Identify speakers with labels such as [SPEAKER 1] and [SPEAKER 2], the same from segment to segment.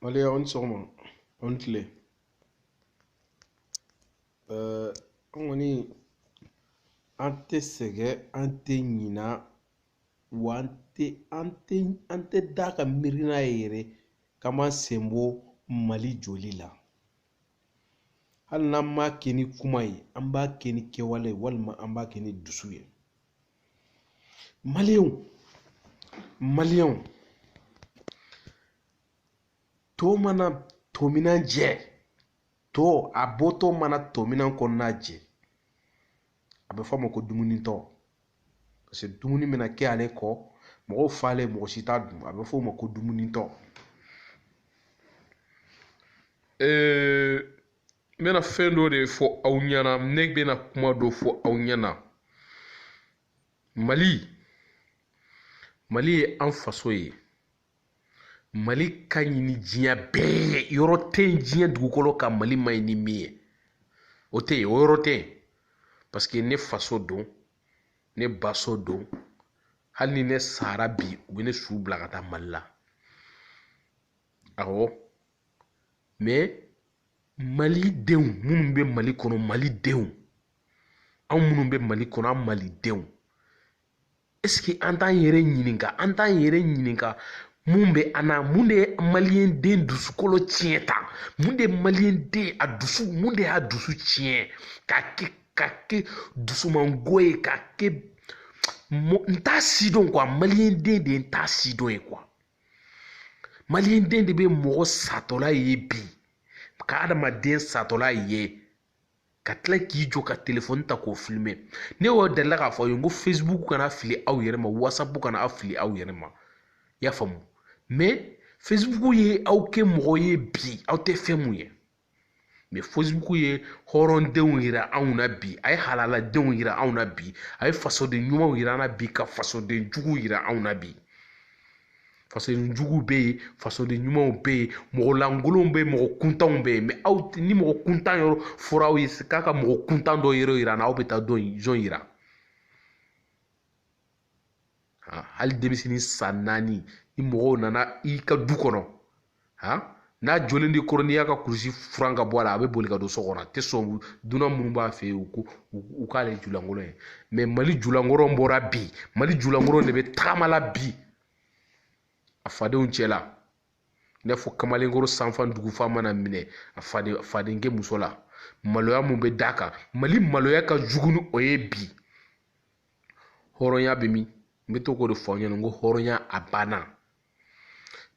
[SPEAKER 1] allez aw ni sɔgɔma aw ni tile ɛɛ an kɔni an tɛ sɛgɛn an tɛ ɲina wa an tɛ an tɛ an tɛ da ka miiri n'a ye yɛrɛ k'an b'an sen bɔ mali jɔli la hali n'an m'a kɛ ni kuma ye an b'a kɛ ni kɛwale ye walima an b'a kɛ ni dusu ye maliyɛnw maliyɛnw to mana to minan jɛ to a bɔtɔ mana to minan kɔnɔna jɛ a bɛ fɔ a ma ko dumuni tɔ paseke dumuni bɛna kɛ ale kɔ mɔgɔw falen mɔgɔ si t'a dun a bɛ fɔ o ma ko dumuni tɔ n bɛna fɛn dɔ de fɔ aw ɲɛna ne bɛna kuma dɔ fɔ aw ɲɛna mali mali ye an faso ye mali ka ɲi ni diɲɛ bɛɛ ye yɔrɔ tɛ yen diɲɛ dugukolo kan mali ma ɲi ni min ye o tɛ yen o yɔrɔ tɛ yen parce que ne faso don ne baso don hali ni ne sara bi u bɛ ne su bila ka taa mali la awɔ mɛ mali denw minnu bɛ mali kɔnɔ mali denw anw minnu bɛ mali kɔnɔ an mali denw eseke an t'an yɛrɛ ɲininka an t'an yɛrɛ ɲininka mun bɛ an na mun de ye maliyɛn den dusukolo tiɲɛ tan mun de ye maliyɛn den a dusu mun de y'a dusu tiɲɛ k'a kɛ k'a kɛ dusumango ye k'a kɛ n t'a sidɔn kuwa maliyɛn den de ye n t'a sidɔn ye kuwa maliyɛn den de bɛ mɔgɔ satɔ lajɛ bi ka adamaden satɔ lajɛ ka tila k'i jɔ ka telefɔni ta k'o filime ne y'o delila k'a fɔ aw ye n ko facebook kana aw fili aw yɛrɛ ma whatsapp kana aw fili aw yɛrɛ ma i y'a faamu mɛ facebook ye aw kɛ mɔgɔ ye bi aw tɛ fɛn min ye mɛ facebook ye hɔrɔndenw yira anw na bi a ye halaladenw yira anw na bi a ye fasoden ɲumanw yira an na bi ka fasoden juguw yira anw na bi fasoden juguw bɛ yen fasoden ɲumanw bɛ yen mɔgɔ lankolonw bɛ yen mɔgɔ kuntanw bɛ yen mɛ aw ni mɔgɔ kuntan yɔrɔ fɔra aw ye k'a ka mɔgɔ kuntan dɔ yɔrɔ yira an na aw bɛ taa dɔ in jɔn yira hali denmisɛnnin san naani ni mɔgɔw nana i ka du kɔnɔ n'a jɔlen de kɔrɔ n'i y'a ka kurusi furan ka bɔ a la a bɛ boli ka don so kɔnɔ a tɛ sɔn dunan minnu b'a fɛ yen u ko u k'ale julankolon ye mɛ mali julankolon bɔra bi mali julankolon de bɛ tagama la bi a fadenw cɛla i n'a fɔ kamalenkɔrɔ sanfan dugufa mana minɛ a faden fadenkɛ muso la maloya mun bɛ d'a kan mali maloya ka jugu ni o ye bi hɔrɔnya bɛ min n bɛ to k'o de fɔ aw ɲɛna n ko hɔrɔnya a banna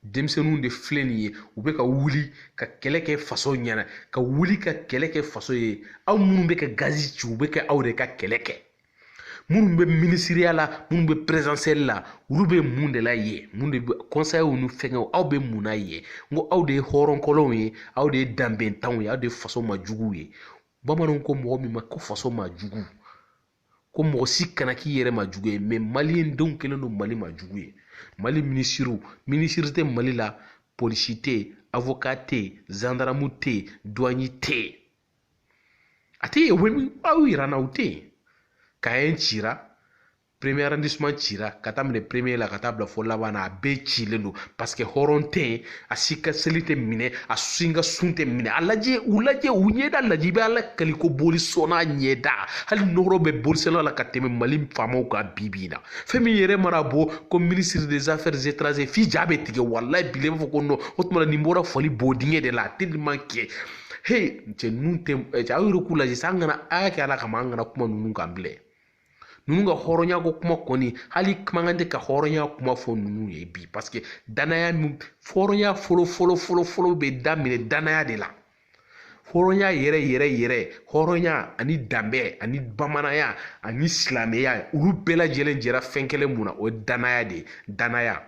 [SPEAKER 1] denmisɛnninw de filɛ nin ye u bɛ ka wuli ka kɛlɛ kɛ faso ɲɛna ka wuli ka kɛlɛ kɛ faso ye aw minnu bɛ ka gazi ci u bɛ ka aw de ka kɛlɛ kɛ minnu bɛ minisiriya la minnu bɛ présidentielle la olu bɛ mun de la ye minnu bɛ conseil ni fɛnkɛw aw bɛ mun na ye n ko aw de ye hɔrɔnkɔlɔnw ye aw de ye danbentanw ye aw de ye faso majuguw ye bamananw ko mɔgɔ min ma ko faso majugu ko mɔgɔ si kana k'i yɛrɛ majugu ye mɛ maliyen denw kɛlen don mali majugu ye mali minisiriw minisiri tɛ mali la polisi tɛ yen awoka tɛ yen zandaramu tɛ yen duwanɲi tɛ yen a tɛ yen u bɛ min aw yira n na u tɛ yen kayi cira premier arrondissement cira ka taa minɛ premier la ka taa bila fo laban na a bɛɛ cilen don parce que hɔrɔn tɛ yen a si ka seli tɛ minɛ a si ka sun tɛ minɛ a lajɛ u lajɛ u ɲɛda lajɛ i bɛ ala kali ko bolisɔnna ɲɛda hali nɔɔrɔ bɛ bolisɔnna la ka tɛmɛ mali faamaw kan bi bi in na fɛn min yɛrɛ mana bɔ ko ministre des affaires étrangères f'i ja bɛ tigɛ walayi bilayi i b'a fɔ ko non o tuma na nin bɔra fali bodingɛ de la tellement que he cɛ ninnu tɛ cɛ aw yɛrɛ k'u lajɛ sa an kana a y'a kɛ ala kama an kana kuma ninnu kan bilen ninnu ka hɔrɔnya ko kuma kɔni hali kumakan tɛ ka hɔrɔnya kuma fɔ ninnu ye bi paseke danaya min hɔrɔnya fɔlɔ fɔlɔ fɔlɔ fɔlɔ bɛ daminɛ danaya de la hɔrɔnya yɛrɛ yɛrɛ yɛrɛ hɔrɔnya ani danbɛ ani bamananya ani silamɛya olu bɛɛ lajɛlen jɛra fɛn kelen mun na o ye danaya de ye danaya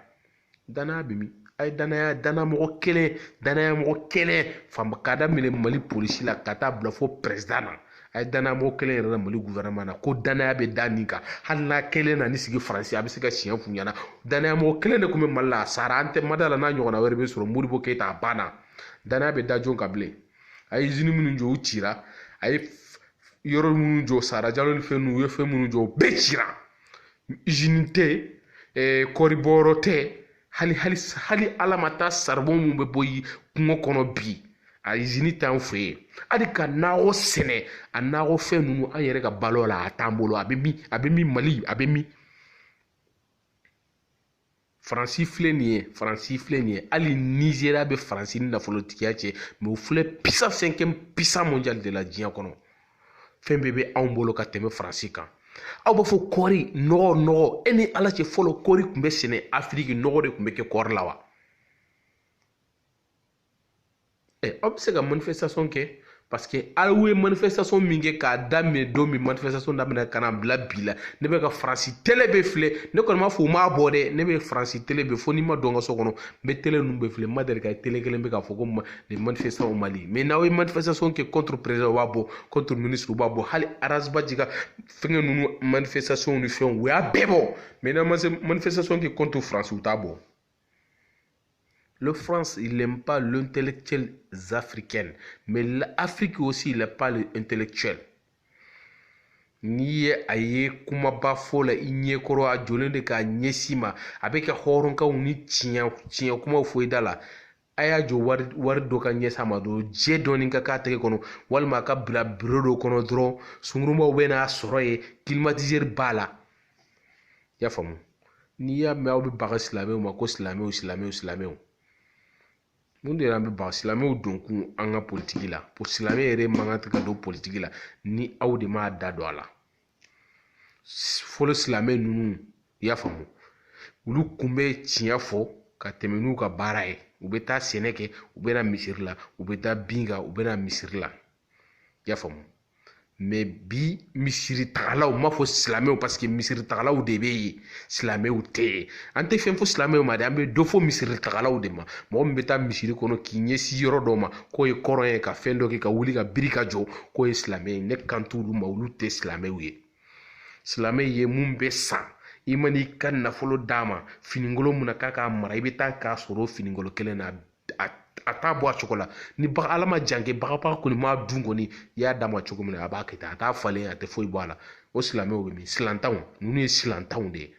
[SPEAKER 1] danaya bɛ min a ye danaya danamɔgɔ kelen danayamɔgɔ kelen fɔ ban k'a daminɛ mali polisi la ka taa bila fo pɛrɛsidan na a ye danayamɔgɔ kelen yira n na mali gofɛrɛnaman na ko danaya bɛ da min kan hali n'a kelen nan'i sigi faransi a bɛ se ka tiɲɛ f'u ɲɛna danayamɔgɔ kelen de tun bɛ mali la a sara an tɛ ma d'a la n'a ɲɔgɔnna wɛrɛ bɛ sɔrɔ modibo keyita a banna danaya bɛ da jɔn kan bilen a ye izini minnu jɔ u cira a ye yɔrɔ minnu jɔ sada jalo ni fɛn ninnu u ye fɛn minnu jɔ u bɛɛ cira izini tɛ eh, kɔɔri bɔyɔrɔ tɛ hali hali hali ala ma taa saribɔn mun bɛ bɔ kungo kɔnɔ bi a izini t'an fɛ yen hali ka nakɔ sɛnɛ a nakɔ fɛn ninnu an yɛrɛ ka balo la a t'an bolo a bɛ min a bɛ min mali a bɛ min faransi filɛ nin ye faransi filɛ nin ye hali nizeriya bɛ faransi ni nafolotigiya cɛ mɛ o filɛ puissance fɛnkɛ puissance mondiale de la diɲɛ kɔnɔ fɛn bɛɛ bɛ anw bolo ka tɛmɛ faransi kan aw b'a fɔ kɔɔri nɔgɔ nɔgɔ e ni ala cɛ fɔlɔ kɔɔri tun bɛ sɛnɛ afiriki nɔgɔ de tun bɛ kɛ kɔɔri la wa ɛ aw bɛ se ka manifestation kɛ parce que aw ye manifestation min kɛ k'a daminɛ don min manifestation daminɛ ka na bila bi la ne bɛ ka faransi tele bɛɛ filɛ ne kɔni m'a fɔ u m'a bɔ dɛ ne bɛ faransi tele bɛɛ fo n'i ma don n ka so kɔnɔ n bɛ tele ninnu bɛɛ filɛ n ma deli ka tele kelen bɛ k'a fɔ ko les manifestants au mali mais n'aw ye manifestation kɛ contre président u b'a bɔ contre ministre u b'a bɔ hali Ras Bath ka fɛngɛ ninnu manifestation ni fɛnw u y'a bɛɛ bɔ mais n'aw ma se manifestation kɛ contre faransi u t'a bɔ Le France, il n'aime pas l'intellectuel africain. Mais l'Afrique aussi, il n'aime pas l'intellectuel. n'i ye a ye kumaba fɔ la i ɲɛkɔrɔ a jɔlen de k'a ɲɛsin i ma a bɛ ka hɔrɔnkanw ni tiɲɛ kumaw fɔ i da la a y'a jɔ wari dɔ ka ɲɛsin a ma dɔrɔn jɛ dɔɔni ka k'a tɛgɛ kɔnɔ walima a ka bila biro dɔ kɔnɔ dɔrɔn sungurumaw bɛ n'a sɔrɔ yen kilimatizeri b'a la i y'a faamu n'i y'a mɛn aw bɛ baga silamɛw ma ko silamɛw silamɛw silamɛw mun de y'an bɛ baga silamɛw don kun an ka politigi la silamɛ yɛrɛ mako tɛ ka don politigi la ni aw de m'a da don a la fɔlɔ silamɛ ninnu i y'a faamu olu kun bɛ tiɲɛ fɔ ka tɛmɛ n'u ka baara ye u bɛ taa sɛnɛ kɛ u bɛ na misiri la u bɛ taa bin kan u bɛ na misiri la i y'a faamu mɛ bi misiri tagalaw n m'a fɔ silamɛw paseke misiri tagalaw de bɛ yen silamɛw tɛ yen an tɛ fɛn fɔ silamɛw ma dɛ an bɛ dɔ fɔ misiri tagalaw de ma mɔgɔ min bɛ taa misiri kɔnɔ k'i ɲɛsin yɔrɔ dɔ ma k'o ye kɔrɔn ye ka fɛn dɔ kɛ ka wuli ka biri ka jɔ k'o ye silamɛ ye ne kan t'olu ma olu tɛ silamɛw ye silamɛ ye mun ye sa i man'i ka nafolo d'a ma finikolon min na k'a k'a mara i bɛ taa k'a sɔrɔ o finikolon kelen na a t'a bɔ a cogo la ni baga ala ma janke bagabaga kɔni m'a dun kɔni i y'a d'a ma cogo min na a b'a kɛ ten a t'a falen a tɛ foyi bɔ a la o silamɛw bɛ min silantanw ninnu ye silantanw de ye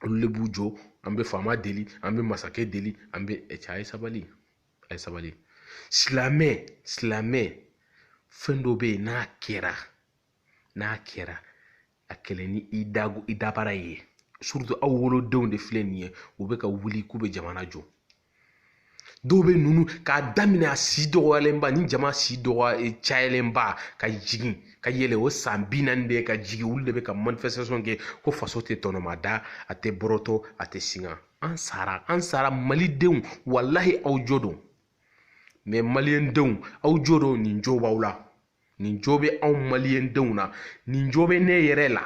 [SPEAKER 1] olu de b'u jɔ an bɛ faama deli an bɛ masakɛ deli an bɛ cɛ a ye sabali a ye sabali silamɛ silamɛ fɛn dɔ bɛ yen n'a kɛra n'a kɛra a kɛlɛ ni i da i dabara ye aw wolodenw de filɛ nin ye u bɛ ka wuli k'u bɛ jamana jɔ dɔw bɛ ninnu k'a daminɛ a si dɔgɔyalenba ni jama si dɔgɔya eh, cayalenba ka jigin ka yɛlɛ o san bi naani de ka jigin olu de bɛ ka manifestation kɛ ko faso tɛ tɔnɔmada a tɛ bɔrɔtɔ a tɛ singa an sara an sara malidenw walahi aw jo don mɛ maliyɛndenw aw jo don nin jo b'aw la nin jo bɛ anw maliyɛndenw na nin jo bɛ ne yɛrɛ la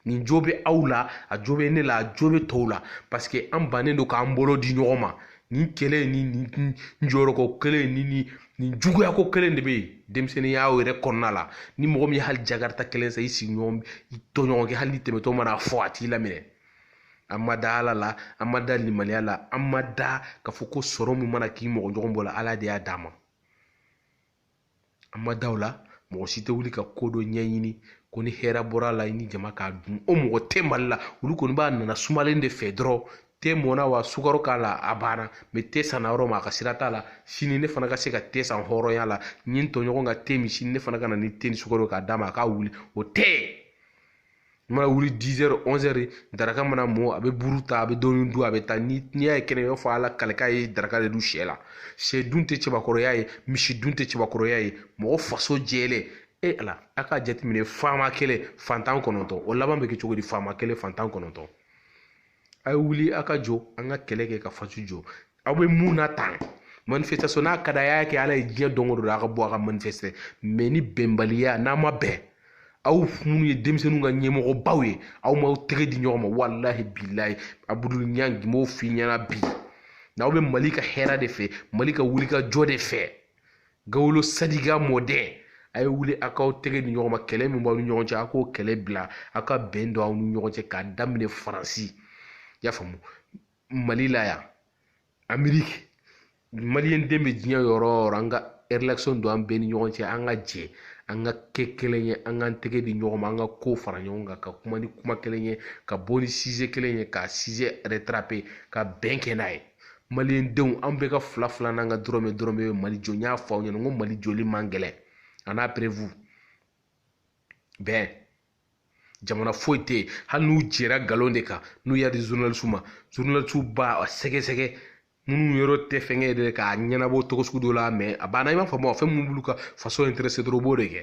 [SPEAKER 1] nin jo bɛ aw la a jo bɛ ne la a jo bɛ tɔw la paseke an bannen don k'an bolo di ɲɔgɔn ma nin kɛlɛ ni nin jɔyɔrɔko kelen ni nin nijuguyako kelen de bɛ yen denmisɛnninya yɛrɛ kɔnɔna la ni mɔgɔ min ye hali jakarita kelen san i sigiɲɔgɔn i tɔɲɔgɔn kɛ hali n'i tɛmɛtɔ man'a fo a t'i laminɛ an ma da ala la an ma da limaniya la an ma da k'a fɔ ko sɔrɔ min mana k'i mɔgɔ ɲɔgɔn bolo ala de y'a d'a ma an ma da o la mɔgɔ si tɛ wuli ka ko dɔ ɲɛɲini ko ni hɛrɛ bɔr'a la i ni jama k'a dun o mɔgɔ tɛ mali la olu kɔni b'a nana sumalen de fɛ dɔrɔn te mɔna wa sukaro k'a la a banna mɛ te sanna yɔrɔ min a ka sira t'a la sini ne fana ka se ka te san hɔrɔnya la n ye n tɔɲɔgɔn ka te min sini ne fana ka na ni te ni sukaro k'a d'a ma a k'a wuli o tɛ i mana wuli 10 heures 11 heures daraka mana mɔ a bɛ buru ta a bɛ dɔɔni dun a bɛ taa ni n'i y'a ye kɛnɛ i b'a fɔ ala kalika ye daraka de dun sɛ la sɛ dun tɛ cɛbakɔrɔya ye misi dun tɛ cɛbakɔrɔya ye mɔgɔ faso jɛlen e ala a k'a jateminɛ faama kelen fantan kɔnɔntɔn o laban bɛ kɛ cogo di faama kelen fantan kɔnɔntɔn a ye wuli a ka jɔ an ka kɛlɛ kɛ ka faso jɔ aw bɛ mun na tan manifestation n'a ka d'a ye a y'a kɛ ala ye diɲɛ don o don a ka bɔ a ka manifeste mɛ ni bɛnbaliya n'a ma bɛn aw minnu ye denmisɛnninw ka ɲɛmɔgɔbaw ye aw m'aw tɛgɛ di ɲɔgɔn ma walahi bilayi abudul ɲan n b'o f'i ɲɛna bi n'aw bɛ mali ka hɛrɛ de fɛ mali ka wulikajɔ de fɛ gawolo sadiga mɔden a ye wuli a k'aw tɛgɛ di ɲɔgɔn ma kɛlɛ min b'aw ni ɲɔgɔn cɛ a k'o kɛlɛ bila aw ka bɛn don aw ni ɲɔgɔn cɛ k'a daminɛ faransi i y'a faamu mali la yan ameriki maliyɛn den bɛ diɲɛ yɔrɔ o yɔrɔ an ka relation don an bɛɛ ni ɲɔgɔn cɛ an ka jɛ an ka kɛ kelen ye an k'an tɛgɛ di ɲɔgɔn ma an ka ko fara ɲɔgɔn kan ka kuma ni kuma kelen ye ka bɔ ni size kelen ye ka size retrape ka bɛn kɛ n'a ye maliyɛn denw an bɛɛ ka fila fila n'an ka dɔrɔmɛ dɔrɔmɛ bɛ mali jɔ n y'a fɔ aw ɲɛna n ko mali jɔli man gɛlɛn a n'a perewu bɛn jamana foyi tɛ yen hali n'u jɛra nkalon de kan n'u y'a di zurunalisiw ma zurunalisiw b'a sɛgɛsɛgɛ minnu yɔrɔ tɛ fɛnkɛ yɛrɛ k'a ɲɛnabɔ cogo sugu dɔ la mɛ a banna i b'a fɔ fɛn min b'olu ka faso ɛntɛrɛse dɔrɔn u b'o de kɛ